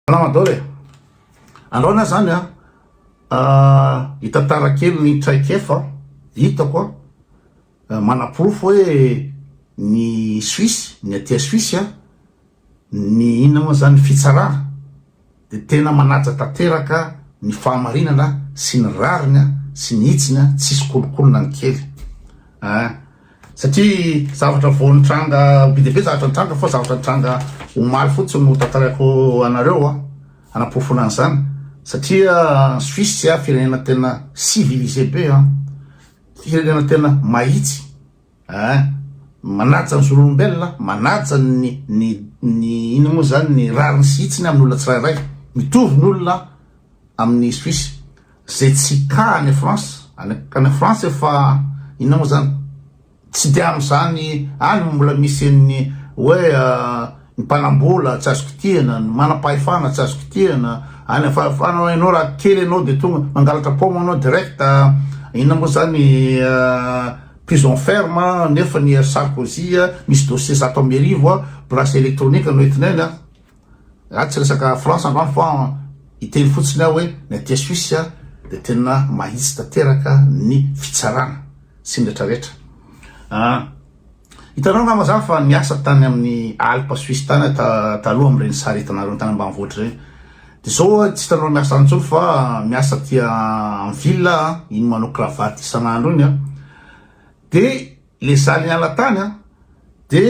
Ramadan e! Anaona zany an, hitantara kely ny traikefa hitako an, manaporofo hoe ny Suisse, ny aty Suisse an, ny inona moa zany, ny fitsarana dia tena manaja tanteraka ny fahamarinana sy ny rariny sy ny hitsiny an, tsisy kolokolona ny kely an. Satria zavatra vao nitranga be dia be zavatra nitranga fa zavatra nitranga omaly fotsiny no tantaraiko anareo an, hanaporofona an'izany satria any Suisse an, firenena tena civilisé be an, firenena tena mahitsy an, manaja ny zon'olombelona, manaja ny ny ny inona moa izany ny rariny sy hitsiny amin'ny olona tsirairay, mitovy ny olona any Suisse. Zay tsy ta any France any any France efa inona moa zany tsy de amzany any moa mbola misy an'ny hoe ny mpanambola tsy azo kitihana ny manampahefana tsy azo kitihana any afa afa anao enao raha kely enao de tonga mangalatra paoma anao direct inona moa zany prison ferme nefa ny Sarkozy misy dossier zato amby arivo bracelet électronique no entinay any an. Raha tsy resaka France androany fa hiteny fotsiny aho hoe ny aty Suisse dia tena mahitsy tanteraka ny fitsarana sy ny retraretra an! Hitanao angamba zany fa niasa tany amin'ny Alpes Suisses tany aho taloha amin'ireny sarintana ireny tany ambanivohitra ireny dia zao aho tsy hitanao miasa any intsony fa miasa aty en ville aho, iny manao cravate isan'andro iny an! Dia. Le zany hiala tany an de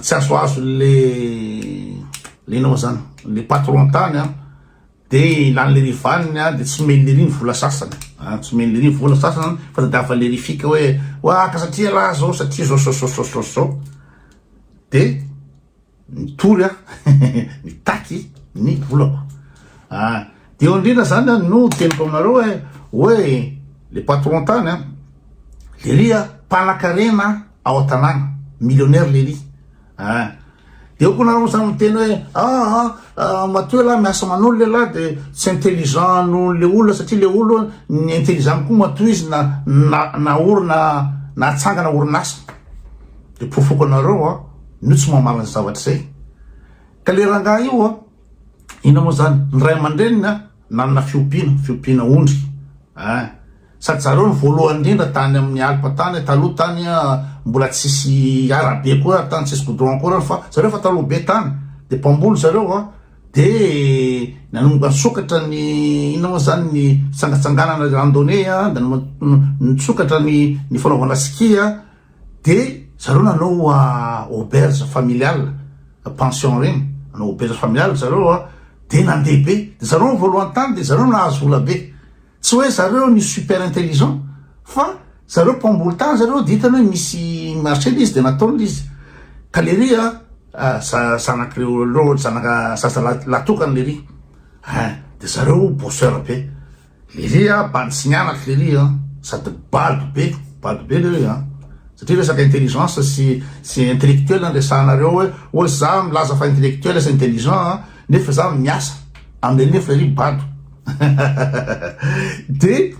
tsy azoazo le le nao zany le patron tany an de ilany le rivaniny an de tsy omeny lery ny vola sasany an tsy omeny lery ny vola sasany fa tadiavin'ny lery fika hoe oa ka satria ialahy zao satria zao zao zao zao zao de Mitory aho mitaky ny volako. Ah, dia eo indrindra izany an, no teniko aminareo hoe, hoe le patron tany an, Lery an, mpanakarena ao an-tanàna, millionnaire Lery. Ah, dia eo koa nareo samy miteny hoe, ah, ah, ah, matoa ialahy miasa manolo lehilahy dia tsy intelligent noho le olona satria le olona ny intelligent koa matoa izy na na na orina nahatsangana orinasa. De pofoko anareo a no tsy mamaly ny zavatra zay. Ka le rangahy io a inona moa zany ny ray aman-dreniny a nanana fiompiana, fiompiana ondry a. Sady zareo no voalohany indrindra tany amin'ny alpes tany taloha tany a mbola tsisy arabe akory ary tany tsisy goudron akory ary fa zareo efa taloha be tany de mpamboly zareo a de nanomboka nisokatra ny inona moa zany ny fitsangatsanganana randonnée a nanomboka nisokatra ny ny fanaovana ski a. De zareo nanao auberge familiale, pension ireny, nanao auberge familiale zareo a, de nandeha be, de zareo ny voalohany tany de zareo nahazo vola be, tsy hoe zareo ny super intelligent fa zareo mpamboly tany zareo de hitany hoe misy marché le izy de nataony le izy, ka lery a zanak'ireo loha, zanaka zaza lahy tokana lery, hein, de zareo bosseur be. Lily a, bantsiniana aky Lily a, sady bado be, bado be lery a, satria resaka intelligence sy sy intellectuel no resahanareo hoe ohatry za milaza fa intellectuel sy intelligent a, nefa za miasa aminy nefa lery bado de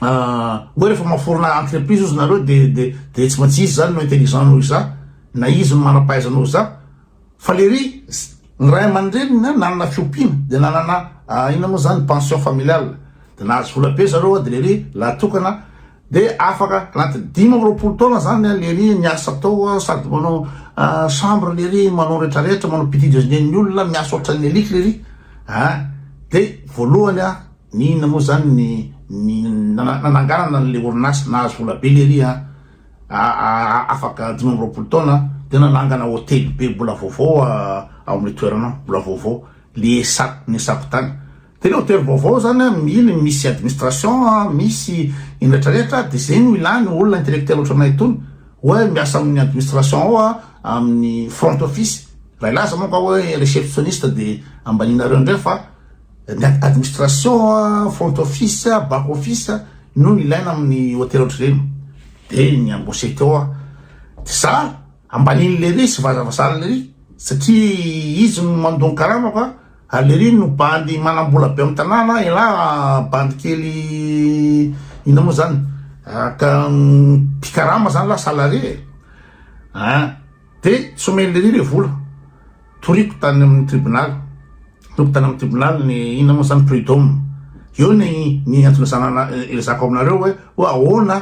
hoe refa maforona entreprise ozy nareo de de de tsy maintsy izy zany no intelligent noho iza, na izy no manampahaizana noho za, Fa lery ny ray aman-dreniny nanana fiompiana dia nanana inona moa zany pension familiale dia nahazo vola be zareo dia lery lahatokana dia afaka anaty dimy amby roapolo taona zany lery ny asa atao sady manao chambre lery manao retraretra manao petit déjeuner ny olona miasa ohatran'ny eliky lery ah dia voalohany ah ny inona moa zany ny ny nananganana an'le orinasa nahazo vola be lery ah afaka dimy amby roapolo taona tena nangana hotely be mbola vaovao ao amin'ny toerana mbola vaovao le esak ny esako tany de le hotely vaovao zany mily misy administration misy inrehetra rehetra de zay no ilany olona intellectuel ohatranay itony hoe miasa amin'ny administration ao amin'ny front office raha ilaza manko hoe receptionniste de ambaninareo indray fa Ny administration, front office, back office no ilaina amin'ny hotely ohatr'ireny de ny embaucher teo aho de za ambanin' lery sy vazavazan' lery satria izy no mandoa ny karamako a, ary lery no bandy manam-bola be amin'ny tanàna, elah bandy kely inona moa zany mpikarama zany lah salarié e! Dia tsy omeny lery le vola. Toriko tany amin'ny tribonaly. Toriko tany amin'ny tribonaly ny inona moa zany prud'homme. Eo ny ny antony sanana ilazako aminareo hoe hoe ahoana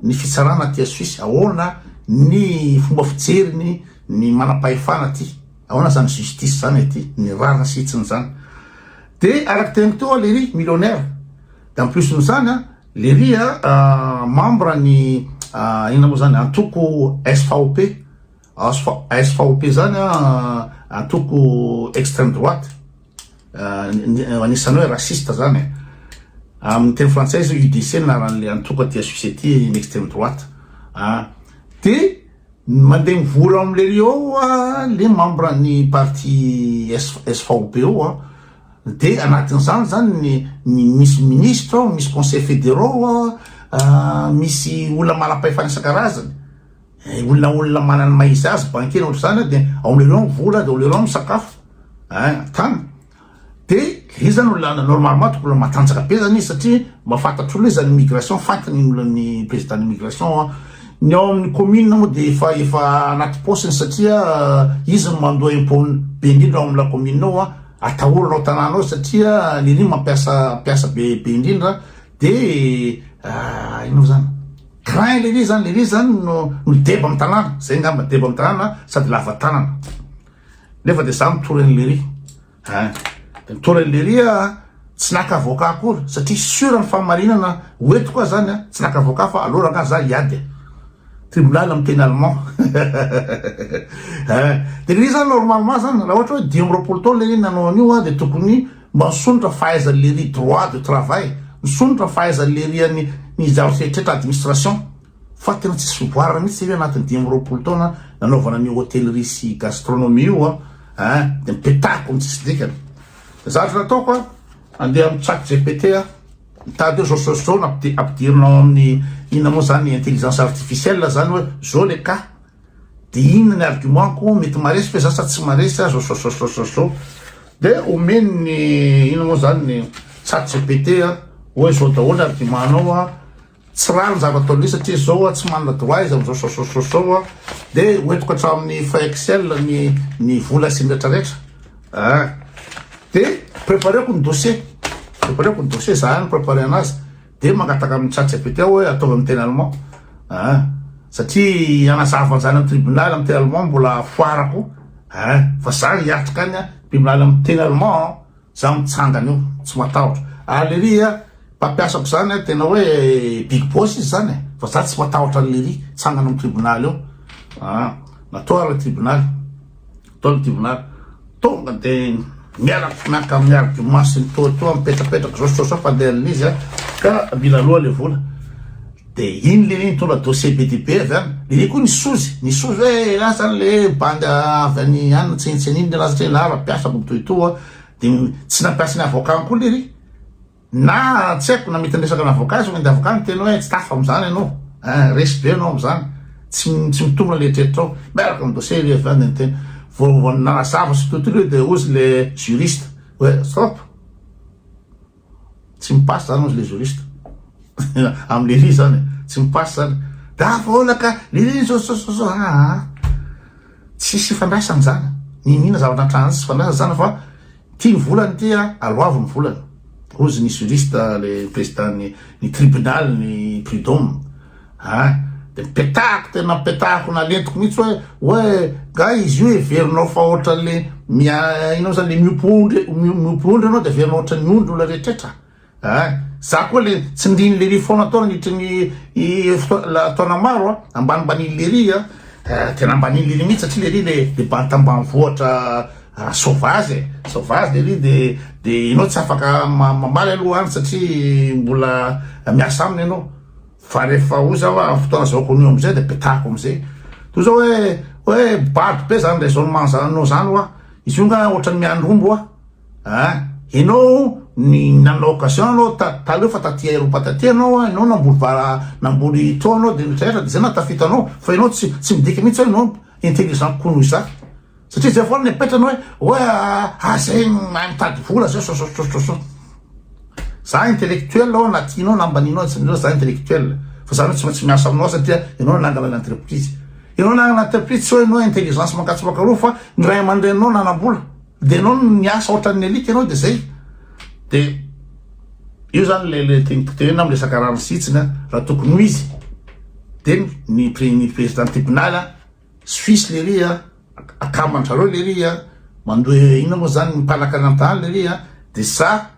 ny fitsarana aty Suisse, ahoana ny fomba fijeriny ny manam-pahefana aty. Ahoana zany justice zany aty, ny rariny sy hitsiny zany. Dia araka teniko teo lery millionnaire. Dia en plus-n'izany an, Lery a, membre ny inona moa zany, antoko svp, svp zany a, antoko extreme droite, anisany hoe raciste zany e, amin'ny teny frantsay izy UDC no anaran'le antoko aty suisse aty, ny extreme droite an, de mandeha mivory ao amin'ny lery ao le membre ny parti svp ao an, Dia anatin'izany izany ny ny misy minisitra ao, misy conseil fédéraux an, misy olona manam-pahefana isan-karazany, eh, olona olona manana ny maha izy azy, banquier na ohatr'izany an, dia aolereo ny vola, dia aolereo ny sakafo, eh, tany. Dia ilay izy izany olona normalement tokony olona matanjaka be izany izy satria mba fantatr'olona izy any immigration, fantany ny olona ny président d'immigration an. Ny ao amin'ny commune moa dia efa efa anaty paosiny satria izy no mandoa impôt be indrindra ao amin'ilay commune ao an, Atahorana ao tanàna ao satria lery mampiasa mpiasa be be indrindra de ah, inona zany craint lery zany lery zany no no deba amin'ny tanàna zay ngamba deba amin'ny tanàna sady lava tanana nefa de za mitory an'i lery ah, de mitory an'i lery a ah, tsy naka avoka akory satria sura ny fahamarinana hoetiko a zany a tsy naka avoka fa aloraka za hiady Tribunal miteny allemand eh! Dia ilay izy zany normalement zany raha ohatra hoe dimy amby roapolo taona ilay izy nanao an'io an dia tokony mba nisondrotra fahaizan'i Lery droit de travail, nisondrotra fahaizan'i Lery an'i ny zavatra rehetra administration fa tena tsisy fivoarana mihitsy izy io anatin'ny dimy amby roapolo taona nanaovana an'io hôtellerie sy gastronomie io an eh! Dia mipetahako ny tsisy dikany. Zavatra nataoko an, andeha amin'ny chat GPT an. Mitady hoe zao zao no ampidirina ao amin'ny inona moa zany intelligence artificielle zany hoe zao le cas de inona ny argument-ko mety maresy ve za sa tsy maresy sa zao zao zao zao zao de omeny ny inona moa zany ny chat gpt hoe zao daholo argument-nao Tsy rare ny zava ataon'io satria zao oa tsy manana droit izy amzao sosososo oa de ho entiko hatramin'ny frais excel ny ny vola sy ny retra retra ah de prepareko ny dossier prepareko ny dossier za no prepare anazy de mangataka amin'ny chat gpt aho oe ataovy amin'ny teny allemand ah satria anazava anzany amin'ny tribunal amin'ny teny allemand mbola foarako ah fa za hiatrika any tribunal amin'ny teny allemand Za mitsangana eo tsy matahotra ary lery a mpampiasako zany a tena hoe big boss izy zany e fa za tsy matahotra an'i lery tsangana am tribunal eo aa natoa ary le tribunal atao le tribunal tonga de miaraka miaraka amin'ny argument sy ny toa toa mipetrapetraka zao sy toa zao fandehan'izy a ka mila aloha le vola De iny lery nitondra dossier be dia be avy any, lery koa nisozy, nisozy hoe elah zany le bandy avy any any tsinontsinona iny lelah satria elah mpiasa boby toy itoa, de tsy nampiasa ny avocat-ny koa lery, na tsy haiko na mety niresaka ny avocat izy, de avocat niteny hoe tsy tafa amzany enao, eh resy be enao amzany, tsy tsy mitombina ny eritreritra ao, miaraka am dossier lery avy any de niteny, vo vo nanazava sy tout lery de hozy le juriste hoe stop, Tsy mi passe zany ozy le juriste am Léry zany e, tsy mi passe zany, gaga foana ka Léry zao zao zao zao aa tsisy ifandraisany zany, niniana zavatra nitranga tsy ifandraisany zany fa tia ny volany ity a, aloavy ny volany ozy ny juriste le président ny tribunal ny prud'homme. An! Dia nipetahako, tena nipetahako nalentiko mihitsy hoe, hoe nga izy io heverinao fa ohatran'le mia, inona moa zany, le miompy ondry, miompy ondry ianao dia heverinao ohatran'ny ondry olona rehetrretra an! Za koa le tsindrin'i lery foana tao nandritra ny fotoana, taona maro an! Ambanimbanian'i lery an! Tena ambanian'i lery mihitsy satria lery le le bantam-banivohitra sauvage e! Sauvage lery dia dia ianao tsy afaka mamaly aloha any satria mbola miasa aminy ianao. Fa rehefa ozy aho amin'ny fotoana zahoako an'io amin'izay dia petahako amin'izay. Toy izao hoe, hoe bado be izany raisonnement zananao izany hoa, izy io nga ohatran'ny miandry omby hoa. Ah, ianao ny nanana occasion ianao ta, taloha fa taty aeropa taty ianao hoa, ianao namboly vara, namboly tro ianao dia ny rehetra dia izay nahatafita anao. Fa ianao tsy, tsy midika mihitsy hoe ianao intelligent kokoa noho izaho. Satria zay foana ny apetrany hoe hoe ah zay mahay mitady vola zay sososososo. Za intellectuel ao na tianao na ambaninao tsy amin'izao za intellectuel fa zany tsy maintsy miasa aminao satria ianao nanangana ny entreprise. Ianao nanangana entreprise tsy hoe ianao intelligence mankatsipaka roa fa ny ray aman-dreninao nanam-bola dia ianao niasa ohatran'ny elite ianao dia zay. Dia io zany le le teny potehinao amin'ny resaka rano sy hitsiny raha tokony ho izy dia ny ny président tribunal Suisse lery a, akaman-dry zareo lery a, mandoa inona moa zany ny mpanakananta any lery a, de sa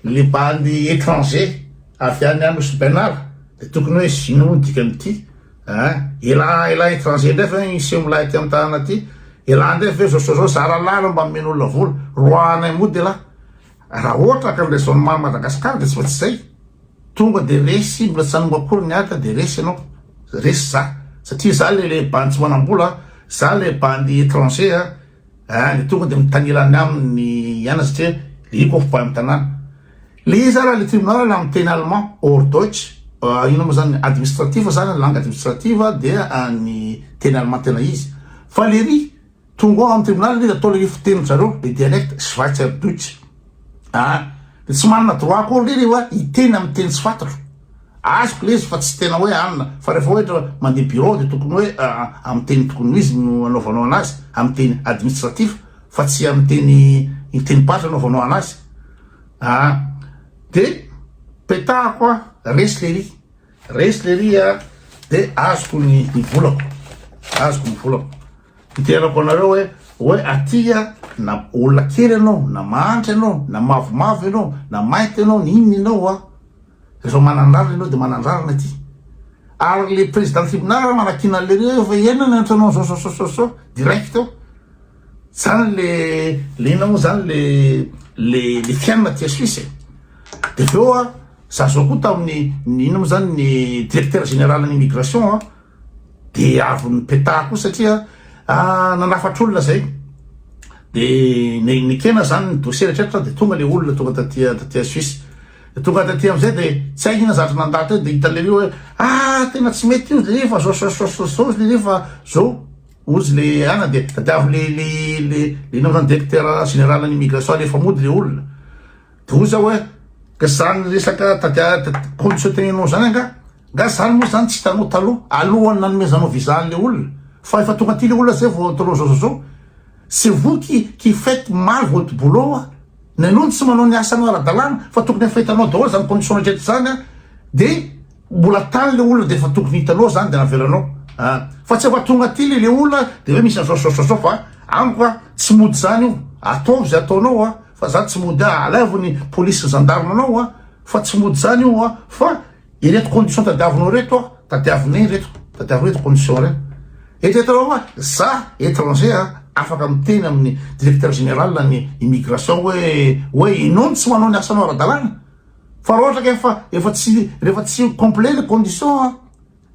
le bandy étranger avy any Anosy Bernard, de tokony hoe zino moa ny dikan'ity a, ela ela étranger ndray ve hiseho milay aty am tanana aty, ela ndray ve zao zao zara lala mba nomen'olona vola, roahanay moa de la. Raha ohatra ka ny raisonnement an'i Madagascar dia tsy maintsy izay, tonga dia resy mbola tsy nanomboka akory ny ady dia resy ianao, resy za, satria za le le bandy tsy manam-bola, za le bandy étranger a, ah dia tonga dia mitanila any aminy ny ihany satria le io koffi bandy tanàna. Le izy ary le tribunal la amin'ny teny allemand, or Deutsch, ah inona moa izany, administratif izany, langue administrative dia ny teny allemand tena izy, fa le ry. Tonga ao am tribunal izy ataony io fiteny zareo le dialect schweizer deutsch a! de tsy manana droit akory ndry ry wa hiteny am teny tsy fantatro azoko le izy fa tsy tena oe anona fa refa oetra mande bureau de tokony oe am teny tokony ho izy no anaovanao anazy am teny administratif fa tsy am teny teny paritra anaovanao anazy a! de petahako a! resy le ry resy le ry a! de azoko ny volako azoko ny volako. Iterako anareo hoe hoe aty a na olona kely ianao na mahantra ianao na mavomavo ianao na mainty ianao na inona ianao a rehefa manandrarana ianao dia manandrarana aty ary le président tribunal manakiana an'le reo efa iainana ny antrano an'izao zao zao zao zao direct eo zany le le inona moa zany le le le fiainana aty Suisse e de avy eo a za zao koa tamin'ny ny inona moa zany ny directeur général ny immigration a de avy nipetaha koa satria ah, nanafatr'olona zay de nekena zany ny dossier rehetraretra de tonga le olona tonga taty taty Suisse de tonga taty amizay de tsy hay ina zatra nandalo teo de hitan'le io hoe ah tena tsy mety io le efa zao zao zao zao zao le efa zao ozy le ana de tadiavo le le le le naozany directeur général ny immigration le efa mody le olona Doro zao eh! Ka zany resaka tadiady conditiontenenao zany anga? Nga zany moa zany tsy hitanao taloha alohan'ny nanomezanao visa an'le olona? Fa efa tonga aty le olona zay vao ataonao zao zao zao? C'est vous qui qui faites mal votre boulot a! Ny anao no tsy manao ny asanao ara-dalàna fa tokony efa hitanao daholo zany condition-nao hatreto zany a! De Mbola tany le olona de efa tokony hitanao zany de avelanao a! Fa tsy efa tonga aty le le olona de hoe misy an'zao sy zao sy zao fa amiko a tsy mody zany io! Ataovy ze ataonao a! Fa za tsy mody a! Alaivo ny polisy sy zandarma anao a! Fa tsy mody zany io a! Fa ireto condition tadiavinao reto a! Tadiavinay ireto! Tadiavinao ireto condition reo! Eritreretanao fa za etranger a! Afaka miteny amin'ny directeur général ny immigration hoe hoe ianao no tsy manao ny asanao ara-dalàna! Fa raha ohatra ka efa efa tsy rehefa tsy complet ilay condition an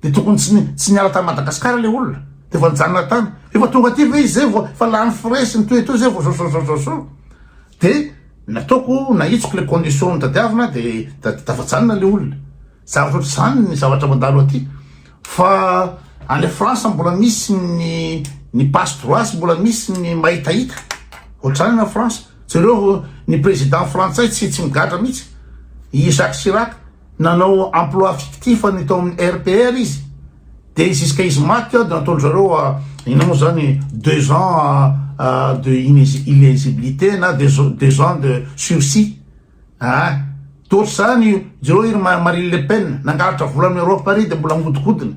dia tokony tsy ny tsy niala tany Madagascar ilay olona dia efa nijanona tany efa tonga aty ve izy zay vao efa lany frais sy ny toy toy zay vao zao zao zao zao dia nataoko nahitsiko ilay condition nitadiavina dia tafajanona ilay olona zavatra ohatr'izany ny zavatra mandalo aty Fa any France mbola misy ny ny passe droits mbola misy ny mahitahita. Ohatrany na France. Jereo ny président frantsay tsy tsy migadra mihitsy. I Jacques Chirac nanao emploi fictif ny tao amin'ny RPR izy. Dia jusqu'à izy maty dia nataony zareo inona moa zany deux ans de inéligibilité na deux ans de sursis. Aah toetry zany io jereo iry marine le pen nangalatra vola am europe ary de mbola angodikodina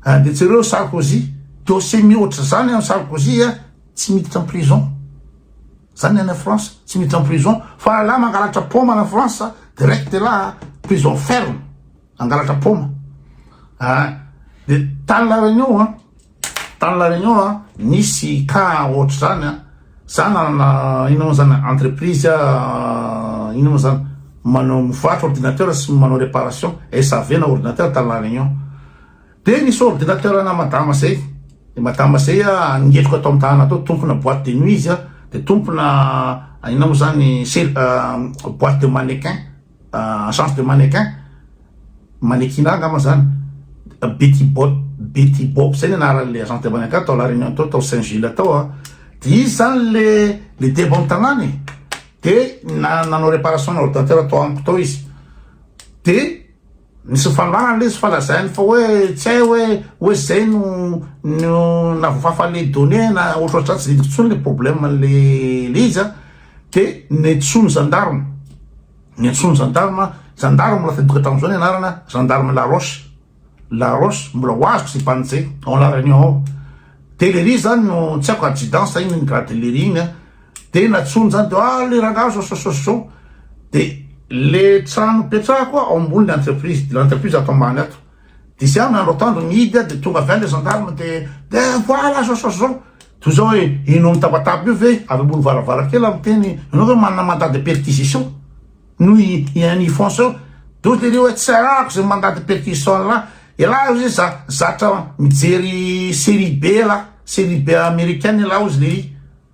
ah de jereo sarkozy dossier mihoatra zany am sarkozy ah tsy miditra am prison zany any france tsy miditra am prison fa ralah mangalatra poma any france direct elah ah prison ferme mangalatra poma ah de tany laharana eo ah Tany La Réunion an, nisy cas ohatr'izany an, za nanana inona moa zany entreprise inona moa zany manao mivarotra ordinateur sy manao réparation SAV na ordinateur tany La Réunion, de nisy ordinateur ana madama zay, de madama zay an ngetroka ato amin'ny tanana ato, tompona boite de nuit izy an, de tompona inona moa zany boite de mannequin. Agence de mannequin, manekina angamba zany, Betty Bop, Betty Bop zay ny anaran'le agence de mannequin tao La Réunion tao, tao Saint Gilles tao a, de izy zany le le deba am tanàna e, de nanao reparation ana ordinateur tao amiko tao izy, de. Nisy fangarana lesy fa lazainy fa hoe tsy hay hoe hoe zay no no navofafa le données na ohatrohatrizany tsy didiko tsony le problème le le izy a de nentsoiny gendarme nentsoiny gendarme gendarme mbola tadidioko hatramin'izao ny anarana gendarme laroche laroche mbola ho azoko zay bandy zay en la réunion ao de lery zany no tsy haiko adjudant sa inona ny grade lery igny a de natsoiny zany de ah le rangahy zao zao zao zao de le trano mipetraha koa ao ambony le entreprise de le entreprise ato ambany ato de zah miandro atoandro mihidy ah de tonga avy any le gendarme de de voilà zao zao zao toy zao hoe ianao mitabataba io ve avy ambony varavarakely ah miteny ianao ve manana mandat de perquisition noho i un ifonso eo de ohatry le ry hoe tsy arahako zay mandat de perquisition an'lah elah ozy zah zatra mijery serie be elah serie be americaine elah ozy le izy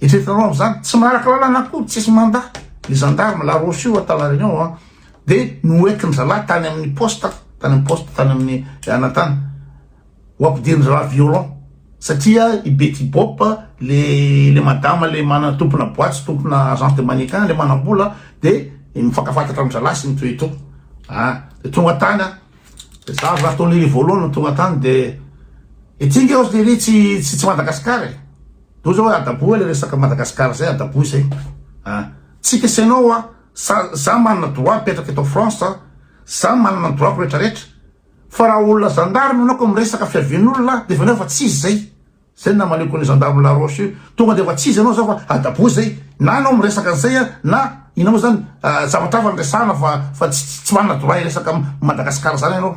Eritreretinareo amzany tsy maraka lalana akory tsisy manda ny gendarme la roche io tala renion a de noentin zalahy tany aminy poste tany aminy poste tany aminy anatany ho ampidirin zalahy violent satria i bety bop le le madama le mana tompona boaty tompona agence de manican le manambola de mifankafatatra am zalahy sy mitoe to a de tonga tany a de za avy raha tao lery voalohany no tonga tany de ety nge ozy lery tsy tsy tsy madagasikara e Zao zao adaboa le resaka Madagascar zay adaboa izay a! Tsy kesenao a! Sa za manana droit mipetraka eto France a! Za manana ny droit-ko rehetra rehetra! Fa raha olona zandary no anao ka miresaka fiavian'olona a! Dia efa anao efa tsy izy zay! Zay no namaliako an'io zandary La Roche io! Tonga dia efa tsy izy anao za fa adaboa zay! Na anao miresaka an'izay a! Na inona moa zany a! Zavatra hafa no resahana fa fa tsy tsy manana droit hiresaka Madagascar zany anao!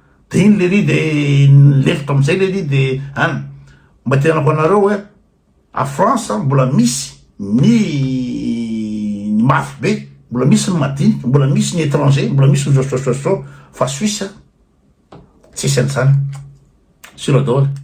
de iny lery de lefitra amizay lery de an mba tenenako anareo oe a France mbola misy ny ny mafy be mbola misy ny madiniky mbola misy ny étranger mbola misy ny zôzôzôzô fa suisse tsisy anizany sura daoly